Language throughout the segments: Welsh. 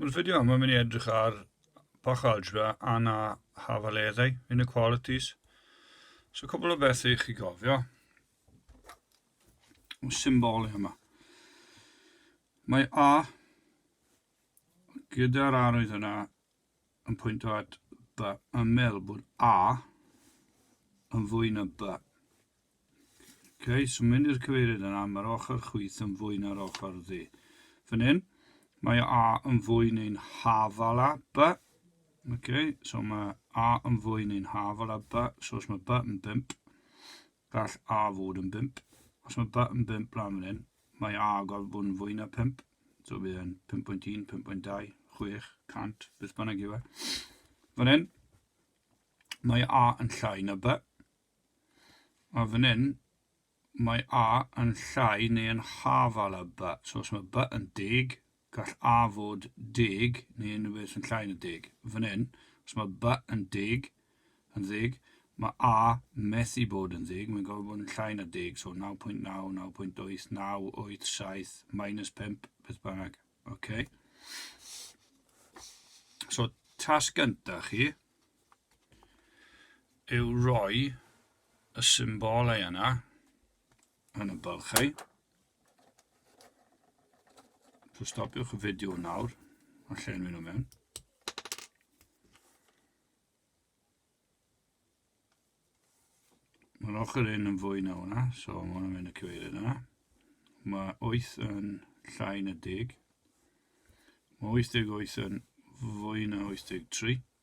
Mae'n fideo yma mynd i edrych ar bach algebra a na hafaleddau, inequalities. So cwbl o bethau i chi gofio. Y symbol yma. Mae A gyda'r arwydd yna yn pwyntio at B yn meddwl bod A yn fwy na B. Ok, so mynd i'r cyfeiriad yna, mae'r ochr chwith yn fwy na'r ochr ddi. Fan hyn, mae A yn fwy neu'n hafal a B. Ok, so mae A yn fwy neu'n hafal a B, so os mae B yn 5, Gall A fod yn bump. Os mae B yn bump lan fan hyn, mae A gorfod bod yn fwy na pump. So bydd e'n 5.1, 5.2, 6, 100, beth bynnag yw e. Fan hyn, mae A yn llai na B. A fan hyn, mae A yn llai neu yn hafal a B. So os mae B yn deg, Gall A fod deg neu unrhyw beth yn llai na deg. Fan hyn, os mae B yn deg, yn ddeg, mae A methu bod yn ddeg, mae'n gorfod bod yn llai na deg, so 9.9, 9.8, 9, 8, 7, minus 5, beth bynnag. OK. So, tasg gyntaf chi yw roi y symbolau yna yn y bylchau. So stopiwch y fideo nawr a llenwi nhw mewn. Mae'r ochr un yn fwy na hwnna, so mae hwnna'n mynd y cyfeiriad yna. Mae 8 yn llai na deg. Mae 88 yn fwy na 83.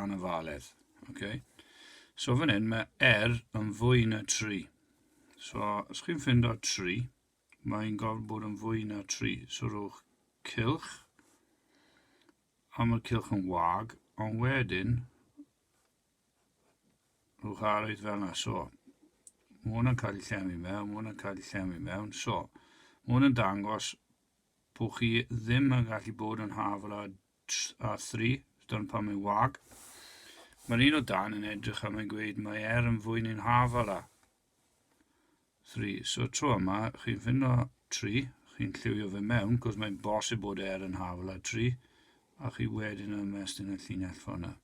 anafaledd. Okay. So fan hyn mae er yn fwy na 3. So os chi'n ffind o 3, mae'n gorfod bod yn fwy na 3. So rhywch cilch, a mae'r cilch yn wag, ond wedyn rhywch arwydd fel yna. So, mae hwnna'n cael ei llenwi mewn, mae hwnna'n cael ei llenwi mewn. So, mae hwnna'n dangos bod chi ddim yn gallu bod yn hafla a thri, dyna pam mae'n wag. Mae'r un o dan yn edrych a mae'n gweud mae er yn fwy ni'n hafal a. Thri. So tro yma, chi'n ffinno tri, chi'n lliwio fe mewn, cos mae'n bosib bod er yn hafal a tri, a chi wedyn yn ymestyn y llinell ffona.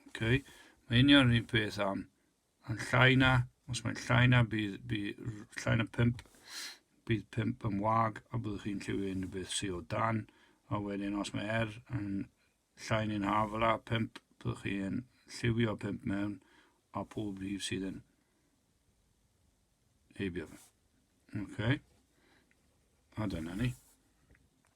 Okay. Mae union yr un peth am Mae'n llai na, os mae'n llai na, bydd, bydd llai na pump, bydd pump yn wag, a byddwch chi'n lliwio unrhyw beth sydd o dan, a wedyn os mae er yn llai neu'n haf yla, pump, byddwch chi'n lliwio pump mewn, a pob rhif sydd yn heibio fe. Okay. A dyna ni.